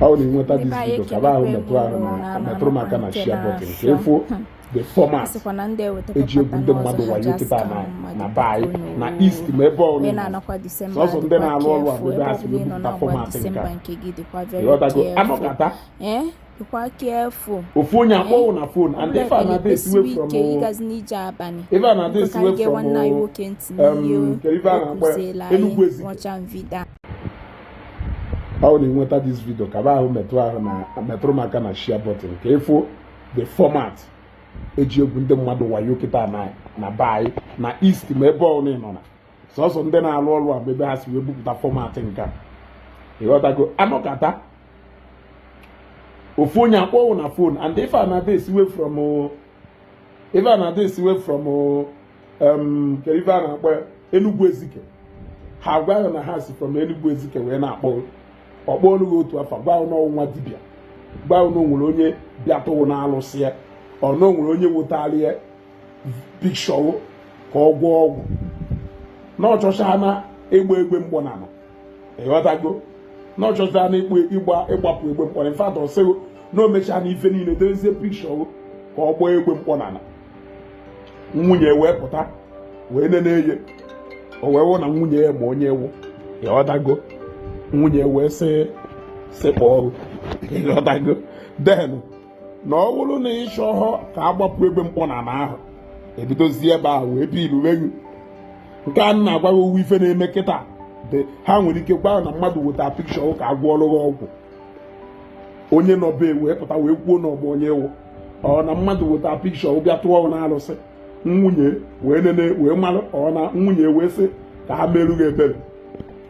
ọ na enweta this video ka ba ahụ metụ ahụ na metụrụ m aka na share button ka ịfụ the format eji egwu ndị mmadụ wayo kịta na be anyị na east ma ebe ọbụla sọsọ ndị na-alụ ọrụ a bụ ebe ha si wepụta format nke a ịghọtago anọkata ofu onye akpọọ wụ na phone and ife a na-adị esiwe from ife a na-adị esiwe from um, ife a na-akpọ Enugu Ezike ọ na-enweta this video ka ba ahụ metụ ahụ na metụrụ m aka na share button ka ịfụ the format eji egwu ndị mmadụ wayo kịta na be anyị na east ma ebe ọbụla ị nọ na sọsọ ndị na-alụ ọrụ a ebe ha si wee bupụta format nke a ịghọtago anọkata ofu onye akpọọ wụ na phone and ife a na-adị esiwe from um, kedu ife a na-akpọ Enugu Ezike ha agwa hụ na ha si from Enugu Ezike wee na-akpọ hụ ọ kpọọ nụ gị otu afa gwa hụ na ọ wụ nwa dibịa gwa hụ na onwere onye bịa tụọ wụ na alụsị ya or na onwere onye wetara ya picture wụ ka ọ gwọọ ọgwụ na ọ chọchaana egbe egbe mkpọnana ịghọtago na ọ chọchaana ịgbapụ egbe mkpọ in fact ọ sịgo na o mechaana ife niile dewezie picture ka ọ gbaa egbe mkpọnana nwunye wee pụta wee nene eye o wee wụ na nwunye ya ma onye ọ wụ ịghọtago nwunye wee sekpuoro ịghọtago then na ọ bụrụ na ịchọhọ ka a gbapụ egbe mkpọnana ahụ ebidozie ebe ahụ wee biluwe gị nke a na-agwa gị ọ wụ ife na-eme kịta ha nwere ike gwa na mmadụ weta picture ka a gwọọrụ gị ọgwụ onye nọ be wee pụta wee kwuo na ọ ma onye ọ wụ or na mmadụ weta picture bịa tụọ na alụsị nwunye wee nene wee mara ọ na nwunye wee sị ka ha meerụ gị ebere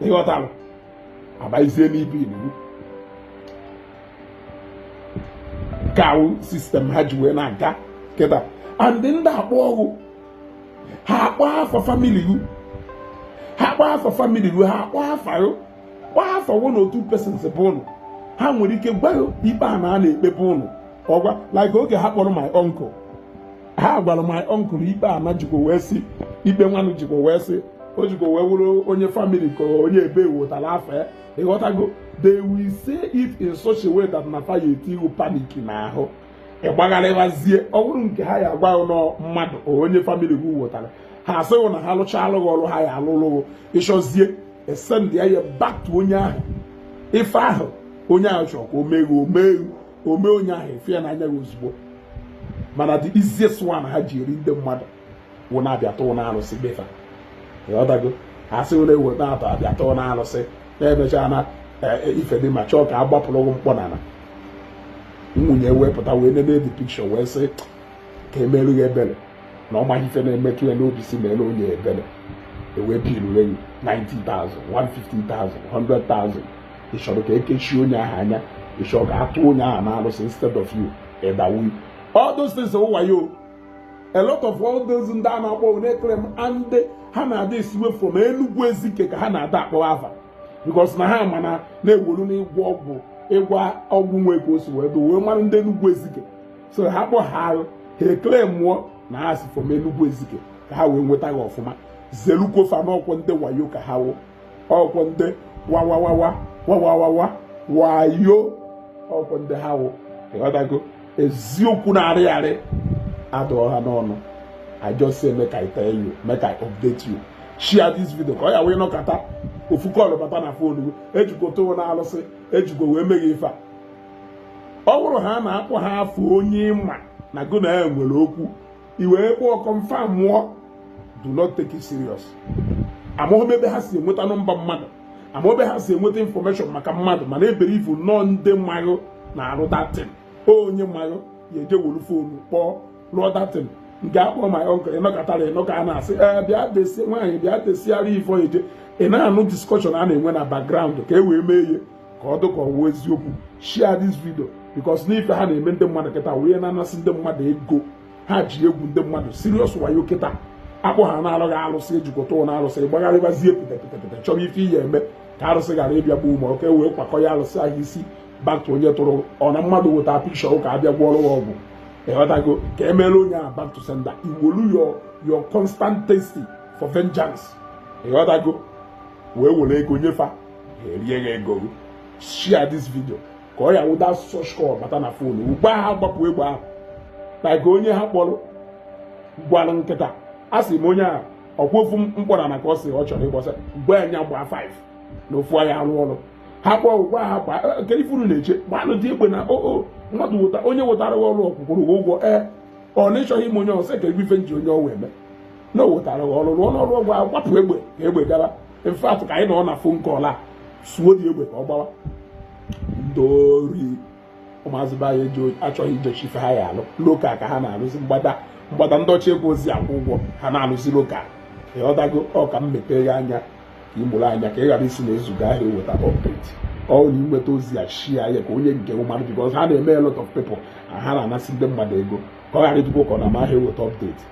ịghọtara abazie n'ibilu ka wụ system ha ji wee na-aga kịta and ndị a akpọọ hụ ha akpọọ afa family hụ ha akpọọ afa family hụ ha akpọọ afa hụ kpọọ afa wụ na otu persons bụ ụnụ ha nwere ike gwa hụ ikpe ana a na-ekpe be ụnụ ọgwa like oge ha kpọrọ my uncle ha gwara my uncle ikpe ana jikwa wee si ikpe nwanụ jikwa wee si o jikwa wee wụrụ onye family ka onye ebe wotara afa ya ịghọtago they will say it in such a way that na fa ya-etii wụ panic n'ahụ ịgbagharịwazie ọ bụrụ nke ha ya-agwa hụ na mmadụ or onye family gị wetara ha asị ghị na ha lụchaalụ ghị ọrụ ha ya-alụlụ ghị ịchọzie esendie ya back to onye ahụ ife ahụ onye ahụ chọrọ ka o mee omee omee onye ahụ efe ya n'anya gị ozugbo mana the easiest one ha ji eri ndị mmadụ wụ na-abịa tụọ na arụsị befa ịghọtago asị were ewu na-atọ abịa tụọ na arụsị na-emecha na e, e, ife dị ma chọọ ka a gbapụrụ ụgwọ mkpọ na nwunye wepụta wee nene the pikshọ wee sị ka emerụ ya ebere na ọ maghị ife na-emetụ ya n'obi si mere onye ebere e wee bilu enyi 90,000 150,000 100,000 ị chọrọ ka ekechie onye ahụ anya ị chọrọ ka atụ onye ahụ na arụsị instead of you ịdawu all those things wayo a lot of all those ndị a na-akpọ na-eklem and ha na-ada esiwe from Enugu Ezike ka ha na-ada akpọ afa because na ha ma na na-ewolu n'ịgwọ ọgwụ ịgwọ ọgwụ nwe ka o si wee do wee mara ndị Enugu Ezike so ha kpọhaara ha eklemụọ na ha si from Enugu Ezike ka ha wee nweta gị ọfụma zelukwọ fa n'ọkwọ ndị wayo ka ha wụ ọkwọ ndị wawawawa wawawawa wayo ọkwọ ndị ha wụ ịghọtago eziokwu na-arị arị adụọ ha n'ọnụ I just say make I tell you make I update you share this video ka ọ ya-awụ ị nọkata ofu kọlụ bata na fon gị ejikwa tụọ na alụsị ejikwa wee mee gị ife a ọ bụrụ ha na-akpọ ha afa onye ị ma na gụ na ya nwere okwu i wee kpọọ kọnfamụọ do not take it serious amaghị m ebe ha si enweta nọmba mmadụ amaghị m ebe ha si enweta infọmeshọn maka mmadụ mana ebeliivu na ọ ndị ma gị na-arụ datin onye ma gị ya eje wolu fonu kpọọ rụọ datin nke a kpọ my uncle ị nọkatara ị nụ ka a na-asị ee eh, bịa desie nwaanyị bịa desiara ifo eje ị na-anụ diskọshọn a na-enwe na background ka e wee mee ihe ka ọ dịka ọ wụ eziokwu share this video because n'ife ha na-eme ndị mmadụ kịta wee na-anasị ndị mmadụ ego ha ji egwu ndị mmadụ serious wayo kịta akpọ ha na-alụghị alụsị ejikọta ụlọ alụsị gbagharịbazie pịtapịtapịta chọrọ ife ị ya-eme ka arụsị ghara ịbịa gbuo ma oke wee kwakọ ya alụsị ahụ si back to onye tụrụ ọ na mmadụ weta pikshọ ka a bịa gwọrọ ya ọgwụ ịghọtago ka emere onye a back to sender i wolu your constant thirsting for vengeance ịghọtago wee were ego nye fa erie gị ego gị share this video ka ọ ya-awụ da such call bata na fon ugbu a gbapụ egbe ahụ na ka onye ha kpọrọ gwara m kịta a sị m onye a ọkwa ofu mkpọrọ na ka ọ sị ọ chọrọ ịgbọsa gwa anya gbaa 5 na ofu anya arụ ọrụ ha kpọọ gwa ha gbaa e, nke ifuru na-eche gbanụ dị egbe na oo oh, oh, mmadụ weta onye wetara ọrụ ọ kwụkwara ụgwọ ee ọ na ịchọghị ime onye ọsọ ka egwu ife nji onye ọwa eme na o wetara ọrụ rụọ n'ọrụ ọgwụ ahụ gbapụ egbe ka egbe gara in fact ka anyị nọ na fon kọl a suo dị egbe ka ọ gbawa ndị ori ụmụazị be anyị achọghị ijechi ife ha ya alụ loka ka ha na-alụzi mgbada mgbada ndị ọcha egwu ozi akwụ ụgwọ ha na-alụzi loka ịghọtago ọ ka m mepee ya anya ka ị mụrụ anya ka ị ghara ịsị na ezuga ahịa eweta ọpdeti ọ na i nweta ozi a shia ya ka onye nke mmadụ bikọz ha na-eme a lot of people ha na-anasị ndị mmadụ ego ka ọ ghara ịdịkwa ụkọ na mahịa eweta ọpdeti